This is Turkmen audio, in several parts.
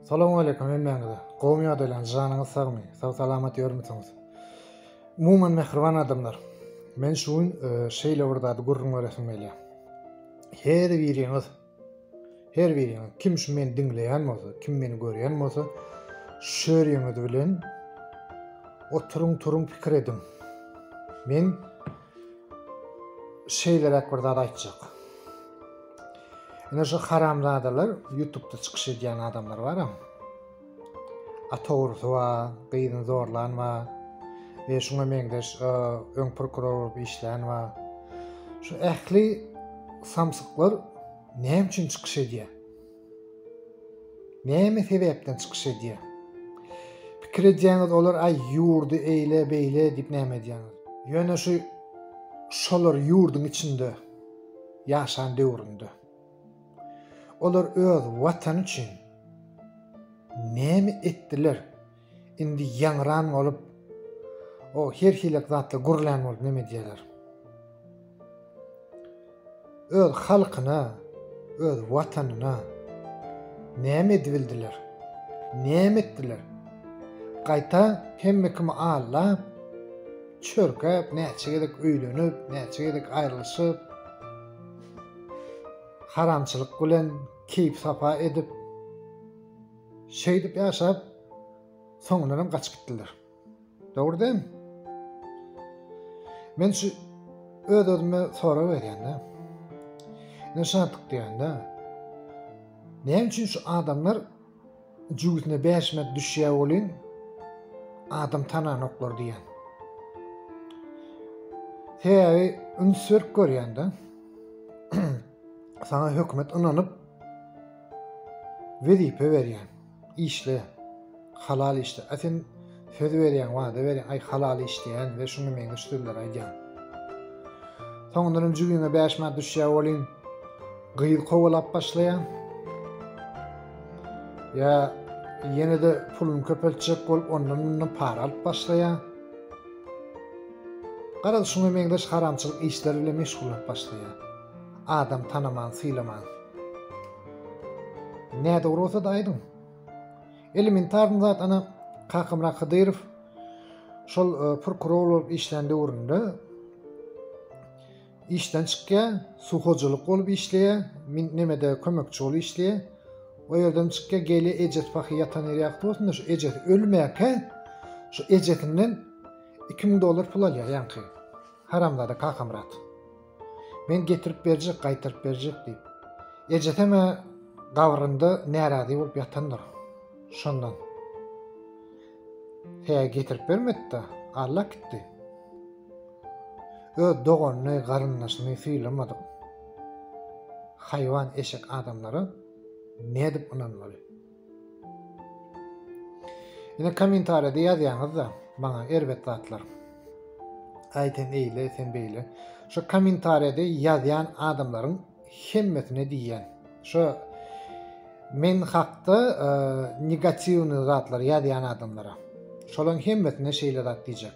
Salam aleýkum hemmäňize. Gowmy ýagdaýlaryňyz, janyňyz sagmy, sag salamat ýörmüsiňiz? Umuman mähriban adamlar. Men şu gün e, şeýle bir zady gürrüň beresim gelýär. Her biriňiz her biriňiz kim şu meni diňleýän bolsa, kim meni görýän bolsa, şöriňiz bilen oturyň turuň pikir ediň. Men şeýleräk bir zat aýtjak. Ine şu haramzadalar YouTube'da çykyş edýän adamlar bar hem. Ata urusy bar, gyzyny zorlan bar. Ve şuna meňzeş e, öň prokuror bolup işlän bar. Şu ähli samsyklar näme üçin çykyş edýär? Näme sebäpden çykyş edýär? Pikir edýäňiz olar aý ýurdy eýle beýle diýip näme edýäňiz? Ýöne şu şolar ýurduň içinde ýaşan döwründe olar öz watany üçin näme etdiler? Indi ýaňran bolup, o her hilek zatlar gürlän bolup neme diýerler. Öz halkyna, öz watanyna näme edibildiler? Näme etdiler? Gaýta hemme kimi allap, çörkäp, näçe gezek öýlenip, näçe gezek aýrylyşyp, haramçylyk bilen keýp-sapa edip, Şeýdip ýaşap, soňundanam gaçyp gitdiler. Dogry dämi? Men şu öz-özüme sorag berýän-de. Ne şatlyk diýende, näme üçin şu adamlar jübüsine bäşmek düşýär welin adam tananoklar diýen. Sebäbi üns berip görýän-de. Sana hökümet ynanyp Wezipe berýän. Işle. Halal işle. A sen söz berýäň, wada berýäň, aý halal işleýän we şuňa meňzeş sözler aýdýaň. Soňundan hem jübiňe bäş manat düşýär welin, gyz kowalap başlaýaň. Ýa ýene-de puluny köpeltjek bolup, ondan mundan para alyp başlaýaň. Garaz, şuňa meňzeş haramçylyk işler bilen meşgullanyp başlaýaň. Adam tanaman sylamaň. Nädogry bolsa da aýdyň. Elementarny zat ana Kakamrak Hydyrow şol e, prokuror bolup işlän döwründe işden çykýar, suw hojalyk bolup işleýär, nemede kömekçi bolup işleýär. O ýerden çykýar, gelýär ejes pahy ýatan ýeri ýakdy bolsun şu ejes ölmäkä şu ejesinden 2000 dollar pul alýar ýaňky. Haramzada Kakamrat. Men getirip berjek, gaýtaryp berjek diýip. Ejesem-ä gabrynda närazy bolup ýatandyr. Şondan. Tä getirip bermedi-de, allak gitdi. Öz doganyny, garyndaşyny sylamadyk haýwan eşek adamlara nädip ynanmaly? Ine kommentariýada ýazýaňyzda maňa erbet zatlar. Aý sen eýle, sen beýle. Şu kommentariýada ýazýan adamlaryň hemmesine diýýän. Şu men hakda e, negatiwny zatlar ýazýan adamlara. Şolaryň hemmesine şeýle zat diýjek.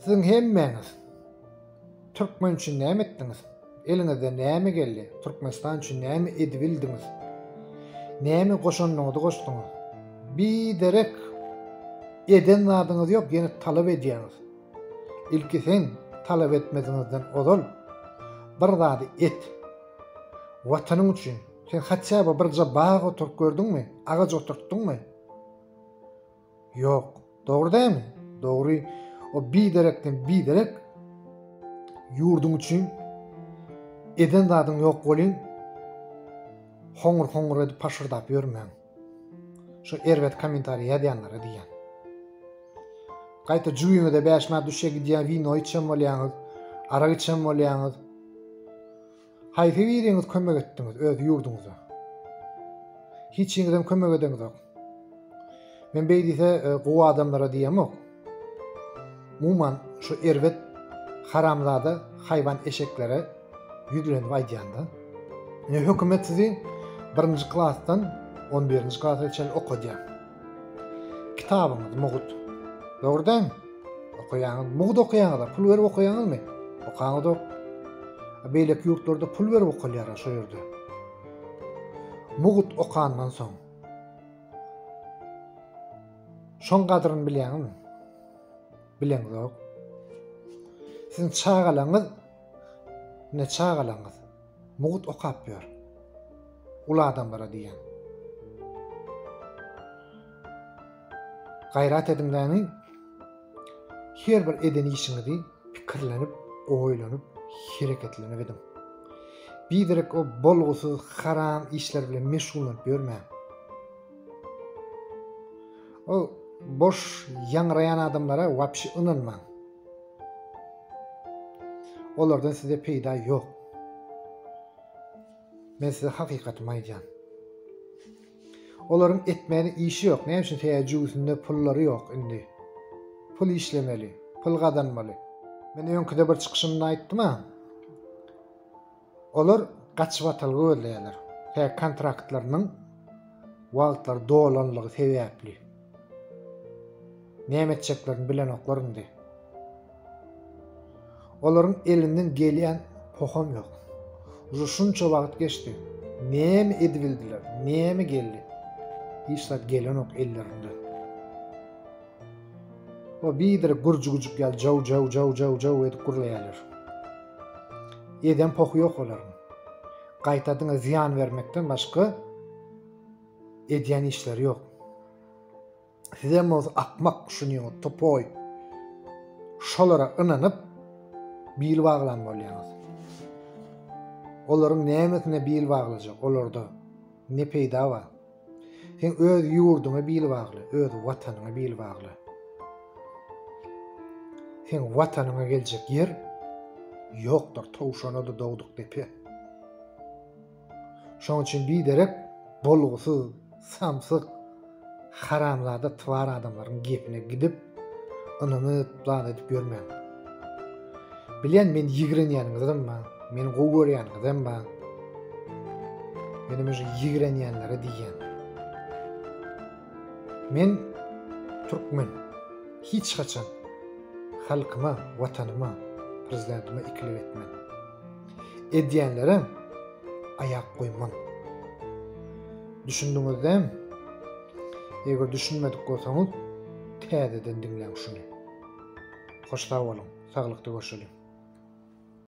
Siziň hemmäňiz türkmen üçin näme etdiňiz? Eliňizden näme geldi? Türkmenistan üçin näme edibildiňiz? Näme goşandyňyzy goşduňyz? Biderek eden zadyňyz ýok, ýene talap edýäňiz. Ilki sen talap etmeziňizden ozal bir zady et. Watanyň üçin sen hatça bir bag oturyp gördüňmi? Agaç oturtdyňmy? Ýok. Dogry dämi? Dogry. O biderekden biderek ýurduň üçin eden zadyň ýok welin hoňur-hoňur edip paşyrdap ýörmäň. Şu erbet kommentariý ýazýanlara diýýän. Gaýta jübiňize bäş manat düşýär gidýär wino içen bolýaňyz, arak içen bolýaňyz. Haýsy biriňiz kömek etdiňiz öz ýurduňyza? Hiçiňizem kömek edeňizok. Men beýdise e, gowy adamlara diýemok. Umuman şu erbet haramzada haýwan eşeklere ýüzlenip aýdýanda. Ne hökümet sizi birinji klasdan 11-nji klasa çenli okadýar. Kitabyňyz mugt. Dogry däl? Okaýaňyz, mugt okaýaňyz, pul berip okaýaňyzmy? Okaňyzok. Beýleki ýurtlarda pul berip okalýar şo ýerde. Mugt okandan soň. Şoň gadryny bilýäňizmi? Bileňizok. Siziň çagalaňyz ne çagalaňyz? Mugut okap ýör. Uly adamlara diýýän. Gaýrat ediň dämi? Her bir eden işiňizi pikirlenip, oýlanyp, hereketlenip ediň. Biderek o bolgusyz, haram işler bilen meşgullanyp ýörmäň. O boş ýaňraýan adamlara wapşi ynanmaň. Olardan size peýda ýok. Men size hakykatymy aýdýan. Olaryň etmäne işi ýok. Näme üçin täze jüwüsinde pullary ýok indi. Pul işlemeli, pul gazanmaly. Men öňküde bir çykyşymda aýtdym-a. Olar gaçybatalga gözleýärler we kontraktlarynyň wagtlary dolanlygy sebäpli näme etjeklerini bilenoklar indi. Olaryň elinden gelýän poham ýok. Uje şunça wagt geçdi. Näme edibildiler, näme geldi? Hiç zat gelenok ellerinden. O bidir gurji güjük ýaly jaw jaw jaw jaw jaw edip gurlaýarlar. Eden pohy ýok olaryň. Gaýta diňe zyýan bermekden başga edýän işleri ýok. Sizem bolsa akmak düşünýäňiz, topoý. Şolara ynanyp bil baglan bolýaňyz. Olaryň nämesine bil baglajak olarda? Ne peýda bar? Sen öz ýurduňa bil bagla, öz Watanyňa bil bagla. Seň Watanyňa geljek ýer ýokdur, towşana-da dogduk depe. Şoň üçin biderek bolgusyz, samsyk, haramzada twar adamlaryň gepine gidip, Ynanyp, zat edip ýörmäň. Bilýän, men ýigrenýäniňizem bar, meni gowy görýäniňizem bar. Menem şu ýigrenýänlere diýýän. Men türkmen. Hiç haçan halkyma, watanyma, prezidentime ikilik etmen. Edýänlere aýak goýman. Düşündiňizdämi? Eger düşünmedik bolsaňyz, täzeden diňläň şuny. Hoş sag boluň, saglykda görşeliň.